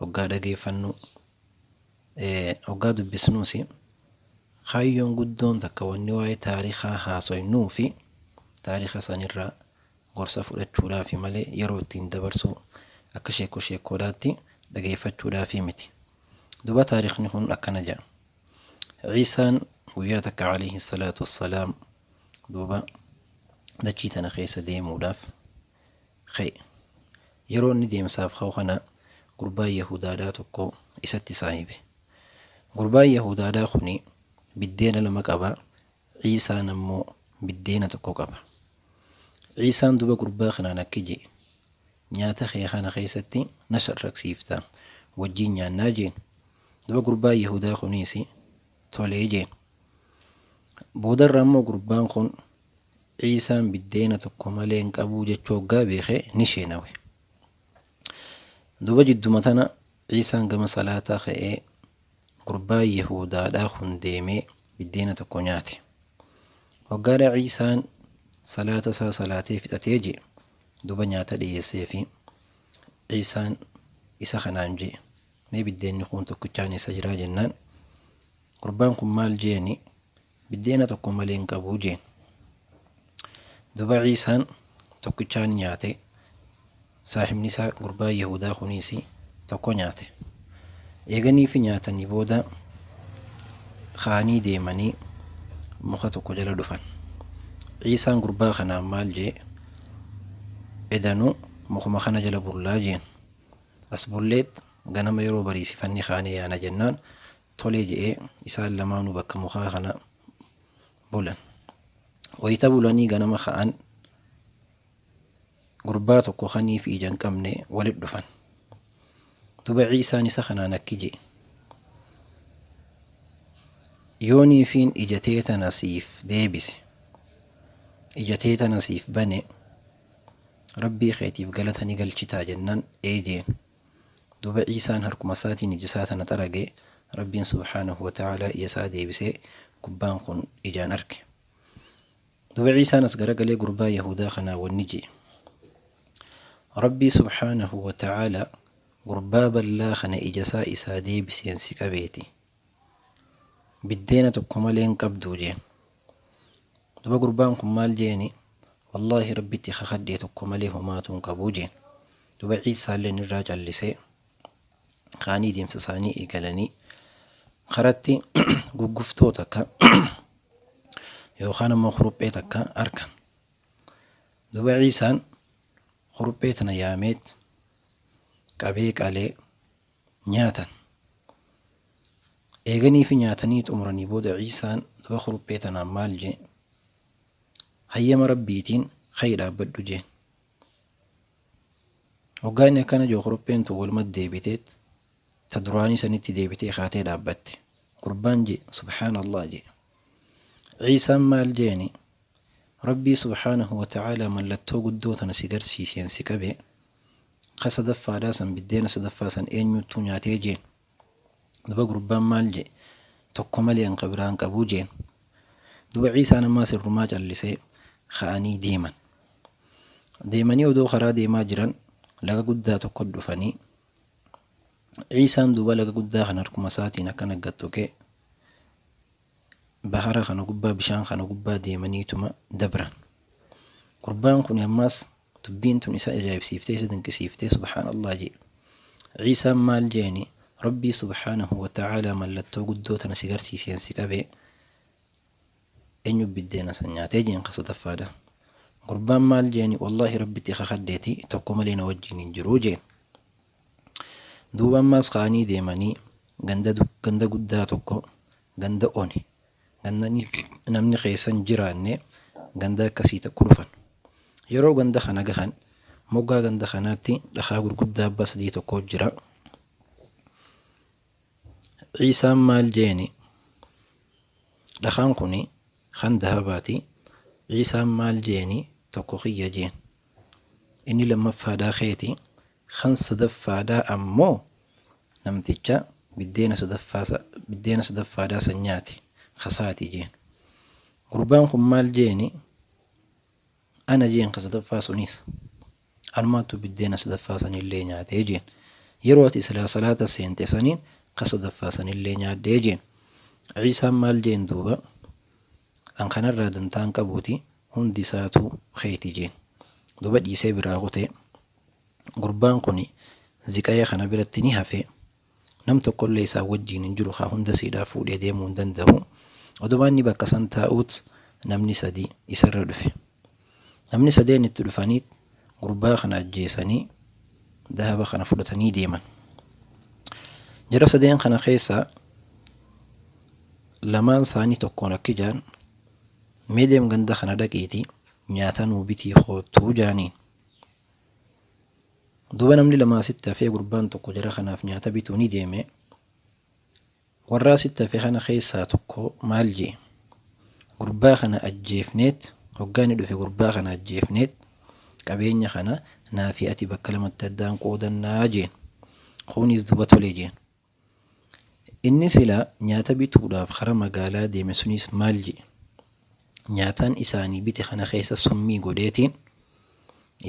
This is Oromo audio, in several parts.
hoggaa dhageeffannu, hoggaa dubbisnuusi kaayyoon guddoon takka wanni waa'ee taarikaa haasoynuufi taarika sanirraa gorsa fudhachuudhaafi malee yeroo ittiin dabarsuu akka sheekkoo sheekkoodhaatti dhageeffachuudhaafi miti. Duuba taarikni kun akkana jedha. Ciisaan guyyaa takka alayhi salaatu wassalaam duuba dachii tana keessa deemuudhaaf, ka'e. Yeroo inni deemsaaf ka'u kana gurbaan Yahuudaadhaa tokko isatti saahibe. Gurbaan Yahuudaadhaa kuni biddeena lama qaba, Ciisaan ammoo biddeena tokko qaba. Ciisaan duba gurbaa kanaan akki je'e, Nyaata kee kana keessatti na sharraksiifta, wajjiin nyaannaa jeen. Duba gurbaan Yahuudaa kuniis tolee jeen. Boodarra ammoo gurbaan kun Ciisaan biddeena tokko malee hin qabuu jechuu hoggaa beeke ni sheenawe. Duuba jidduma tana Ciisaan gama salaataa ka'ee gurbaa Yahuudaadhaa kun deemee biddeena tokko nyaate. Hoggaadha Ciisaan salaata isaa salaatee fixatee je duuba nyaata dhiyeesseefi. Ciisaan isa kanaan je mee biddeenni kuun tokkichaan eessa jiraa jennaan gurbaan kun maal jeeni Biddeena tokko malee hin qabu jeen. Duba Ciisaan tokkichaan nyaate, saahibni isaa gurbaan Yahuudaa kuniis tokko nyaate. Eeganiifi nyaatanii booda ka'anii deemanii muka tokko jala dhufan. Ciisaan gurbaa kanaan maal jee, Edanu mukuma kana jala bullaa jeen. As bulleet ganama yeroo bariisifanne kaanee yaana jennaan Tole je'ee isaan lamaanuu bakka mukaa kana bulan. Wayta bulanii ganama ka'an gurbaa tokko kanii fi ija hin qabne walit dhufan. Duba Ciisaan isa kanaan akki je'e. Yoo niifiin ija tee tana siif deebise, ija tee tana siif bane, Rabbii keetiif galata ni galchitaa jennaan ee jeen. Duuba Iisaan harkuma isaatii nijisaa tana xarage, Rabbiin subhaanahu wa ta'aalaa ija isaa deebisee gubbaan kun ijaan arke. Duuba Iisaan as garagalee gurbaa Yahuudaa kanaan wanni je'e, Rabbii subhaanahu wa ta'aalaa gurbaa ballaa kana ija isaa isaa deebiseen si qabeeti Biddeena tokko malee hin qabduu jeen. Duba gurbaan kun maal jeeni wallaahi rabbitti kakadhee tokko malee homaatuu hin qabuu jeen. Duba ciissaalleen irraa callisee kaanii deemsa isaanii eegalanii karatti gugguftoo takka yookaan ammoo kuruphee takka arkan. Duba ciisaan kuruphee tana yaameet qabee qalee nyaatan. Eeganiifi nyaatanii xumuranii booda Ciisaan duba kuruphee tanaan maal jee? Hayyama Rabbiitiin ka'i dhaabbadhu jeen. Hoggaa inni akkana jeu kurupheen tun walumatti deebiteet ta duraanii sanitti deebitee kaatee dhaabbatte. Gurbaan jee subhaanallah jee. Ciisaan maal jeeni? Rabbii subhaanahu wa ta'aalaa mallattoo guddoo tana si garsiiseen si qabe Ka sadaffaadhaa san biddeena sadaffaa san eenyuuttuu nyaatee jeen. Duba gurbaan maal jee? Tokko malee an ka biraa hin qabu jeen. Duba Ciisaan ammaas irrumaa callisee ka'anii deeman. Deemanii odoo karaa deemaa jiran laga guddaa tokko dhufanii. Ciisaan duuba laga guddaa kana harkuma isaatiin akkana gad tuqee bahara kana gubbaa bishaan kana gubbaa deemaniituma dabran. Gurbaan kun ammaas Dubbiin tun isa ajaa'ibsiiftee isa dinqisiiftee subhaan Allaah je'e. Iisaan maal je'eeni? Rabbii subhaanahu wa ta'aalaa mallattoo guddoo tana si garsiiseen si qabe eenyu biddeena san nyaate je'een ka sadaffaadha. Gurbaan maal je'eeni wallaahi Rabbitti kakadheeti tokko malee na wajjiin hin jiru je'e. Duuba ammaas ka'anii deemanii ganda guddaa tokko ganda one Gandani namni keessa hin jiraanne ganda akkasii tokko dhufan. Yeroo ganda kana gahan moggaa ganda kanaatti dhakaa gurguddaa abbaa sadii tokko jira. Ciisaan maal jeeni? Dhakaan kuni kan dahabaati. Ciisaan maal jeeni? Tokko kiyya jeen. Inni lammaffaadhaa keeti. Kan sadaffaadhaa ammoo namticha biddeena sadaffaa biddeena sadaffaadhaa san nyaate kasaati jeen. Gurbaan kun maal jeeni ana jeen ka sadaffaa suniis anumaatu biddeena sadaffaa sanillee nyaatee jeen. Yeroo ati silaa salaata seente saniin ka sadaffaa sanillee nyaadhee jeen. Ciisaan maal jeen duuba an kanarraa dantaan qabuuti hundi isaatuu keeti jeen. Duuba dhiisee biraa kutee. Gurbaan kuni ziqaya kana biratti ni hafe. Nam tokkollee isaa wajjiin hin jiru haa hunda siidhaa fuudhee deemuu hin dandahu. Odoma inni bakka san taa'uut namni sadii isarra dhufe. Namni sadeen itti dhufaniit gurbaa kana ajjeesanii dahaba kana fudhatanii deeman. Jara sadeen kana keessaa lamaan isaanii tokkoon akkijaan mee deem ganda kana dhaqiitii nyaata nuu bitii koottuu jaaniin. Duuba namni lama asitti hafee gurbaan tokko jara kanaaf nyaata bituu ni deeme. Warra asitti hafe kana keessaa tokko maal jee? Gurbaa kana ajjeefneet hoggaa inni dhufe gurbaa kana ajjeefneet qabeenya kana naa fi ati bakka lamatti addaan qoodannaa jeen. Kunis duuba tole jeen. Inni silaa nyaata bituudhaaf kara magaalaa deeme sunis maal je'e? Nyaataan isaanii bite kana keessa summii godheetiin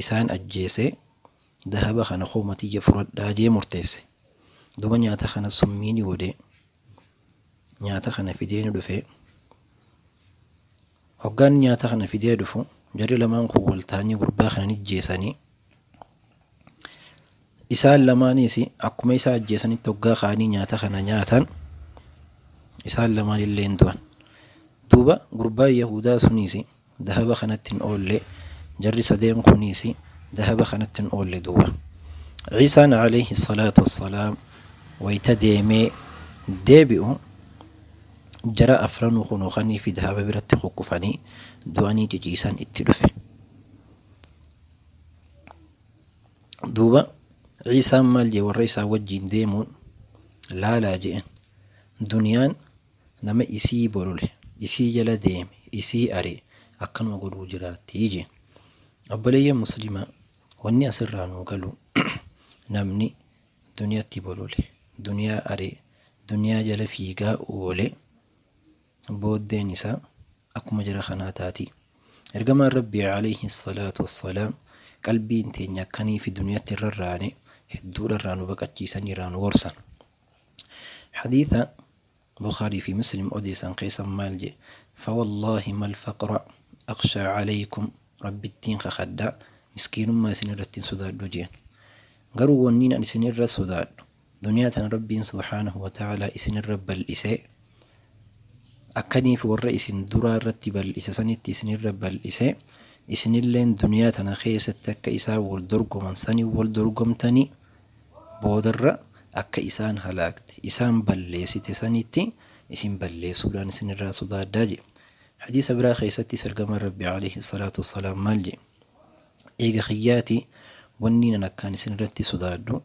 isaan ajjeesee dahaba kana kooma tiyya furadhaa jee murteesse. Duba nyaata kana summii ni godhee nyaata kana fidee ni dhufee Hoggaan nyaata kana fidee dhufu jarri lamaan kun wal ta'anii gurbaa kana ni ajjeesanii. Isaan lamaaniis akkuma isaa ajjeesanitti hoggaa ka'anii nyaata kana nyaatan isaan lamaan illee hin du'an. Duuba gurbaan Yahudaa suniis dahaba kanatti hin oolle jarri sadeen kuniis dahaba kanatti hin oolle duuba. Ciisaan alayhi salaatu wassalaam wayita deemee deebi'u Jara afranuu kunoo kanii fi dahaba biratti kukkufanii du'anii ciciisan itti dhufe. Duuba Iisaan maal jee warra isaa wajjiin deemuun laalaa je'en. Duniyaan nama isii bolole, isii jala deeme, isii ari'e akkanuma godhuu jiraattii jeen. Obboleeyyan muslimaa wanni asirraa nuu galu namni Duniyaatti bolole. Duniyaa aree. Duniyaa jala fiigaa oole. Booddeen isaa akkuma jara kanaa taati. Ergamaan Rabbii alayhi salaatu wassalaam qalbiin teenya akkaniifi duniyaatti irra raane hedduudha irraa nu baqachiisanii irraa nu gorsan. Hadiisa Bukhaarii fi Muslim odeessan keessa maal je'e? Fawallaahi mal faqra akhshaa calaykum, Rabbittiin kakhadha, miskiinummaa isin irratti hin sodaadhu je'en. Garuu wanniin ani isin irra sodaadhu, duniyaa tana Rabbiin subhaanahu wa ta'aalaa isin irra bal'isee, akkaniif warra isin duraa irratti bal'ise sanitti isin irra bal'isee, isinilleen duniyaa tana keessatti akka isaan wal dorgoman saniin wal dorgomtanii, Boodarra akka isaan halaakte, isaan balleessite sanitti isin balleessuudhaan isin irraa sodaadha je'e. Hadiisa biraa keessattis Ergamaan Rabbii aleyhi salaatu wassalaam maal je'e? Eega kiyyaati wanniin an akkaan isin irratti sodaadhu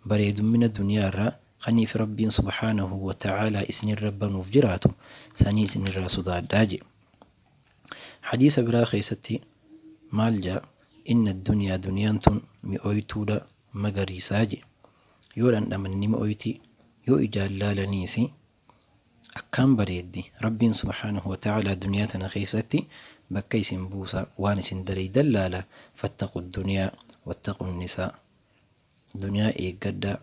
bareedummina duniyaa irraa kaniif Rabbiin subhaanahu wa ta'aalaa isin irra banuuf jiraatu sanii isin irraa sodaadha je'e. Hadiisa biraa keessatti maal ja'a? Inna duniyaa duniyaan tun mi'ooytuudha, magariisaa je. Yoo dhandhaman ni mi'ooyti, yoo ijaan laalaniis akkaan bareeddi. Rabbiin subhaanahu wa ta'aalaa duniyaa tana keessatti bakka isin buusa, waan isin dalaydan laala. Fattaqu duniyaa wattaqu nisaa. Duniyaa eeggadhaa,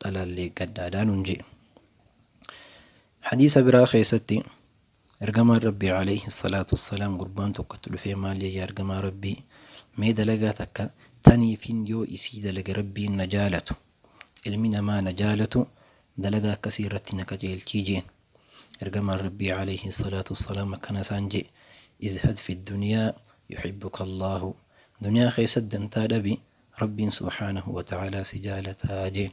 dhalaallee eeggadhaadhaa nuun je. Hadiisa biraa keessatti Ergamaan Rabbii Aleeyhi salaatu wassalaam gurbaan tokko itti dhufee maal jee yaa Ergamaa Rabbii mee dalagaa takka taniifin yoo isii dalage Rabbiin na jaalatu ilmi namaa na jaalatu dalagaa akkasii irratti na qajeelchii jeen Ergamaan Rabbii Aleeyhi salaatu wassalaam akkana isaan jee izhad fi duniyaa yuhibbuka Allaahu duniyaa keessatti dantaa dhabi Rabbiin subhaanahu wa ta'aalaa si jaalataa jeen.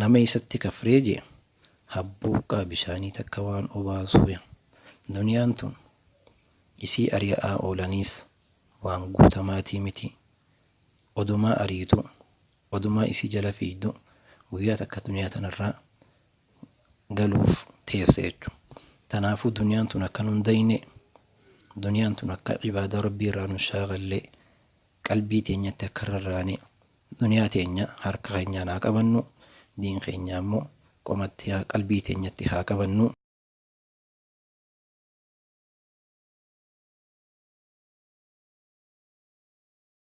Nama isatti kafree je, ha burqaa bishaanii takka waan obaasuuya. Duniyaan tun isii ari'a'aa oolaniis waan guutamaatii miti. Odumaa ariituu, odumaa isii jala fiigdu guyyaa takka duniyaa tanarraa galuuf teessa jechu. Tanaafuu duniyaan tun akka nun dayne, duniyaan tun akka ibaadaa Rabbii irraa nun shaagallee, qalbii teenyatti akka hin rarraane, duniyaa teenya harka keenyaan haa qabannu, diin keenya ammoo qomatti, qalbii teenyatti haa qabannu.